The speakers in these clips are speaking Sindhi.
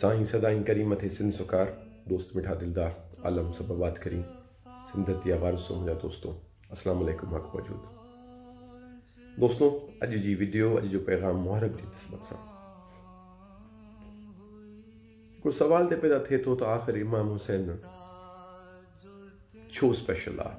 سائين سدائين ڪريم اٿئي سنڌ سوڪار دوست مٺا دلدار عالم سڀ آباد ڪرين سنڌ ڌرتي جا وارثو منهنجا دوستو اسلام عليڪم حق موجود دوستو اڄ جي ويڊيو اڄ جو پيغام محرم جي نسبت سان هڪڙو سوال ته پيدا ٿئي ٿو ته آخر امام حسين ڇو اسپيشل آهي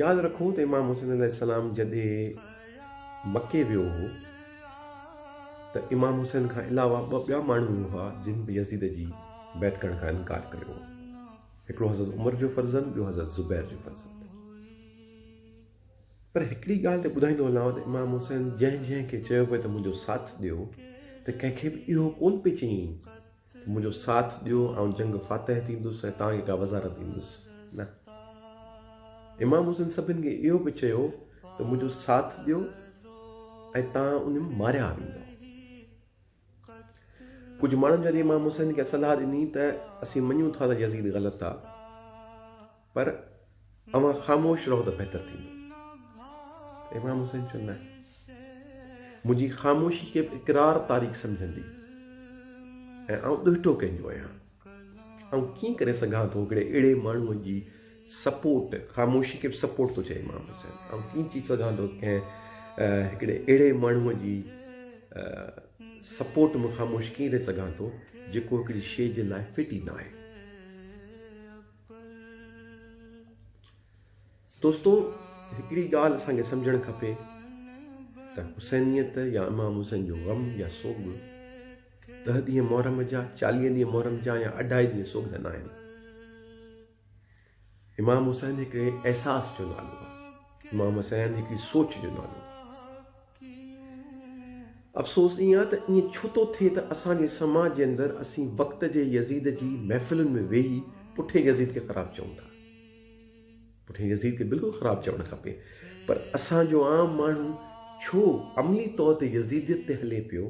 ياد رکو ته امام حسين عليه السلام جڏهن مڪي ويو هو ته امام حسين کان علاوه ٻه ٻيا ماڻهو به هئا جن به يزيد جي بيعت ڪرڻ کان انڪار ڪيو هو هڪڙو حضرت عمر جو فرزند ٻيو حضرت زبير جو فرزند پر هڪڙي ڳالهه ته ٻڌائيندو هلان ته امام حسين جنهن جنهن کي چيو پئي ته منهنجو ساٿ ڏيو ته ڪنهن کي به اهو ڪون پئي چئين منهنجو ساٿ ڏيو، آئون جنگ فاتح ٿيندس ۽ توهان کي ڪا وزارت ڏيندس نه. امام حسين سڀن کي اهو به چيو ته منهنجو ساٿ ڏيو ۽ توهان انهن ماريا ويندو. ڪجهه ماڻهن جڏهن امام حسين کي صلاح ڏني ته اسين مڃون ٿا ته يزيد غلط آ، پر اوهان خاموش رهو ته بهتر ٿيندو. امام حسين چيو نه منهنجي خاموشي کي به اقرار تاريخ سمجهندي ۽ آئون ڏهٽو ڪنهن جو آهيان آئون ڪيئن ڪري سگهان ٿو هڪڙي اهڙي ماڻهوء جي سپورٽ خاموشي کي به سپورٽ ٿو چئي امام حسين آئون ڪيئن چي سگهان ٿو ڪنهن هڪڙي اهڙي ماڻهوء جي سپورٽ ۾ خاموش ڪيئن رهي سگهان ٿو جيڪو هڪڙي شيء جي لاء فٽ ئي نه آهي دوستو هڪڙي ڳالهه اسان کي سمجهڻ کپي ته حسينيت يا امام حسين جو غم يا سوڳ ڏه ڏينهن محرم جا چاليهه ڏينهن محرم جا يا اڍائي ڏينهن سوڳ جا ناهن امام حسين هڪڙي احساس جو نالو امام حسين هڪڙي سوچ جو نالو افسوس ايئن آهي ته ايئن ڇو ٿو ٿئي ته اسان جي سماج جي اندر اسين وقت جي يزيد جي محفلن ۾ ويهي پٺئين يزيد کي خراب چئون ٿا. پٺئين يزيد کي بلڪل خراب چوڻ کپي پر اسان جو عام ماڻهو ڇو عملي طور تي يزيديت تي هلي پيو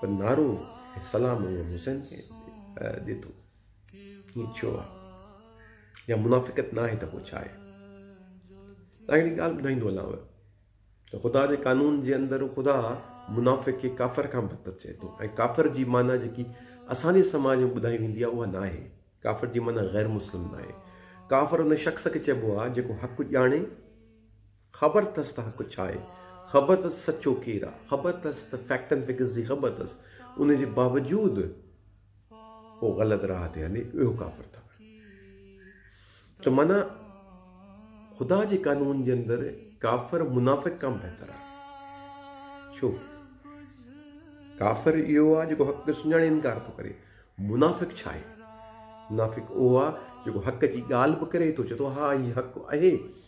پر نعرو ۽ سلام امام حسين کي ڏي ٿو. ائين ڇو آ؟ جا منافقت نه آهي ته پوء ڇا آهي؟ تان هڪڙي ڳالهه ٻڌائيندو هلانء ته خدا جي قانون جي اندر خدا منافق کي ڪافر کان بدتر چئي ٿو ۽ ڪافر جي معنيٰ جيڪي اسان جي سماج ۾ ٻڌائي ويندي آهي اها نه آهي ڪافر جي معنيٰ غير مسلم نه آهي ڪافر ان شخص کي چئبو آهي جيڪو حق ڄاڻي خبر اٿس ته حق ڇا آهي، خبر اٿس ته سچو ڪير آهي، خبر اٿس ته فيڪٽ اينڊ فگرز جي خبر اٿس، ان جي باوجود هو غلط راهه تي هلي، اهو ڪافر ٿو آهي. ته معنيٰ خدا جي قانون جي اندر ڪافر منافق کان بهتر آهي. ڇو؟ ڪافر اهو آهي جيڪو حق کي سڃاڻي انڪار ٿو ڪري. منافق ڇا آهي؟ منافق اهو آهي جيڪو حق جي ڳالهه به ڪري ٿو چئي ٿو ها هي حق آهي.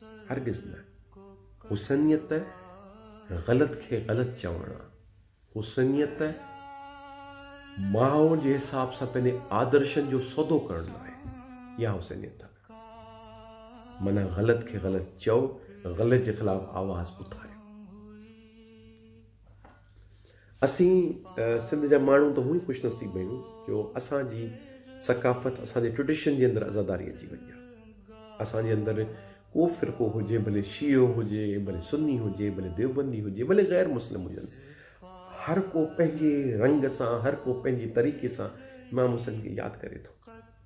هرگز نه. حسنيت غلط کي غلط چوڻ آ. حسنيت ماحول جي حساب سان پنهنجي آدرشن جو سودو ڪرڻ نه آهي. اها حسنيت آ. معنيٰ غلط کي غلط چئو، غلط جي خلاف آواز اٿاريو. اسين سنڌ جا ماڻهو ته هونئن خوش نصيب آهيون جو اسان جي ثقافت اسان جي ٽريڊيشن جي اندر عزاداري اچي وئي آهي اسان جي اندر ڪو فرقو هجي ڀلي شيعو هجي ڀلي سني هجي ڀلي ديوبندي هجي ڀلي غير مسلم هجن هر ڪو پنهنجي رنگ سان هر ڪو پنهنجي طريقي سان امام حسين کي ياد ڪري ٿو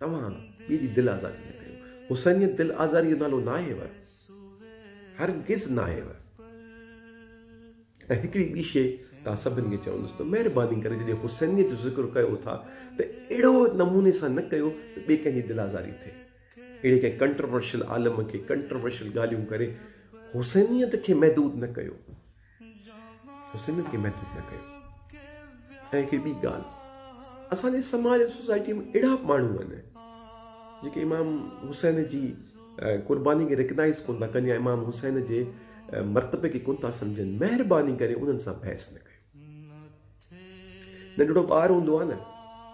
توهان ٻئي جي دل آزاري نه ڪريو. حسينيت دل آزاريء جو نالو ناهيو. هرگز ناهيو. ۽ هڪڙي ٻي شيء توهان سڀني کي چوندس ته مهرباني ڪري جڏهن حسينيت جو ذڪر ڪيو ٿا ته اهڙو نموني سان نه ڪيو ته ٻئي ڪنهن جي دل آزاري ٿئي. اهڙي ڪنهن ڪنٽرورشل عالم کي ڪنٽرورشل ڳالهيون ڪري حسينيت کي محدود نه ڪيو. حسين کي محدود نه ڪيو. ۽ هڪڙي ٻي ڳالهه اسان جي سماج ۽ سوسائٽي ۾ اهڙا به ماڻهو آهن جيڪي امام حسين جي قرباني کي ريڪگنائز ڪون ٿا ڪن يا امام حسين جي مرتبي کي ڪون ٿا سمجهن مهرباني ڪري انهن سان بحث نه ڪيو. ننڍڙو ٻار هوندو آهي نه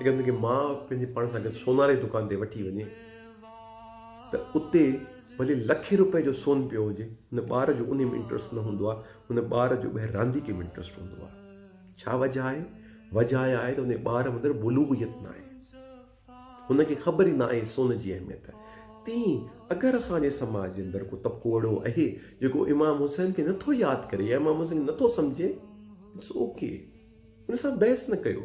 اگر ان کي ماء پنهنجي پاڻ سان گڏ سونار جي دڪان تي وٺي وڃي ته اتي ڀلي لکين روپئي جو سون پيو هجي هن ٻار جو ان ۾ انٽرسٽ نه هوندو آهي هن ٻار جو ٻاهر رانديڪي ۾ انٽرسٽ هوندو آهي ڇا وجهه آهي وجهه آهي ته ان ٻار اندر بلوغيت نه آهي هن کي خبر ئي نه آهي سون جي اهميت. تيئن اگر اسان جي سماج جي اندر ڪو طبقو اهڙو اهي جيڪو امام حسين کي نه ٿو ياد ڪري يا امام حسين کي نه ٿو سمجهي It's ok ان سان بحث نه ڪيو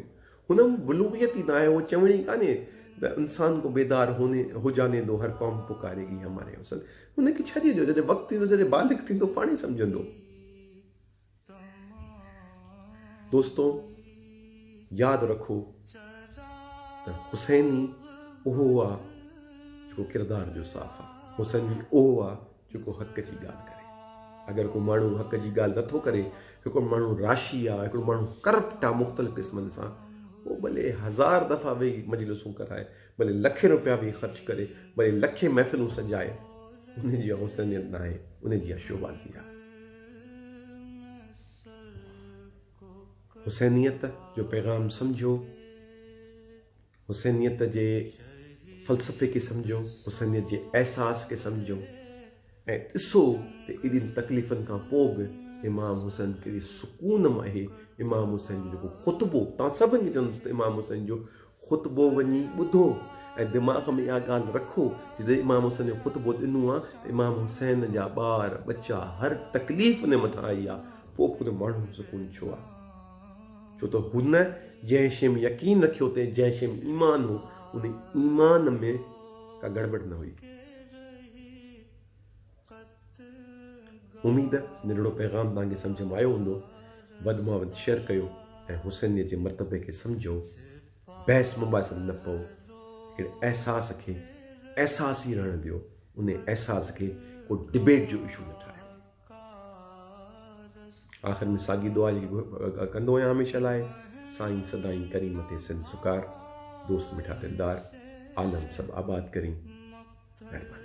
هن ۾ بلوغيت ئي نه آهي اهو چوڻ ئي ڪانهي ته انسان کو بيدار هوني هو جاني دو هر قوم پڪاري گي هماري حسن هن کي ڇڏي ڏيو جڏهن وقت ايندو جڏهن بالغ ٿيندو پاڻ ئي سمجهندو. دوستو ياد رکو ته حسين ئي اهو آ جيڪو ڪردار جو صاف آ، حسين ئي اهو آ جيڪو حق جي ڳالهه ڪري. اگر ڪو ماڻهو حق جي ڳالهه نه ٿو ڪري، هڪڙو ماڻهو راشي آ، هڪڙو ماڻهو ڪرپٽ آ مختلف قسمن سان، هو ڀلي هزار دفعا ويهي مجلسون ڪرائي، ڀلي لکين روپيا به خرچ ڪري، ڀلي لکين محفلون سجائي، ان جي حسينيت ناهي، ان جي شوبازي آهي. حسينيت جو پيغام سمجهو، حسينيت جي فلسفي کي سمجهو، حسينيت جي احساس کي سمجهو ۽ ڏسو ته ايڏين تڪليفن کان پوء به امام حسين ڪهڙي سڪون ۾ اهي امام حسين جو جيڪو خطبو تان سڀن کي چوندس ته امام حسين جو خطبو وڃي ٻڌو ۽ دماغ ۾ اها ڳالهه رکو جڏهن امام حسن جو خطبو ڏنو آ ته امام حسين جا ٻار ٻچا هر تڪليف انهي مٿان آئي آ پوء به ڪنهن ماڻهو کي سڪون ڇو آ ڇو ته هن جنهن شيء ۾ يقين رکيو تنهن جنهن شيء ۾ ايمان هو انهي ايمان ۾ ڪا گڙٻڙ نه هئي. اميد نرڙو پيغام توهان کي سمجهه ۾ آيو هوندو، وڌ مان وڌ شيئر ڪيو ۽ حسينيت جي مرتبي کي سمجهو، بحث مباحثي ۾ نه پئو، هڪڙي احساس کي احساس ئي رهڻ ڏيو، انهي احساس کي ڪو ڊبيٽ جو اشو نه ٺاهيو. آخر ۾ ساڳي دعا جيڪي ڪندو آهيان هميشه لاء، سائين سدائين ڪرين مٿي سنڌ سڪار، دوست مٺا دلدار، عالم سڀ آباد ڪرين. مهرباني.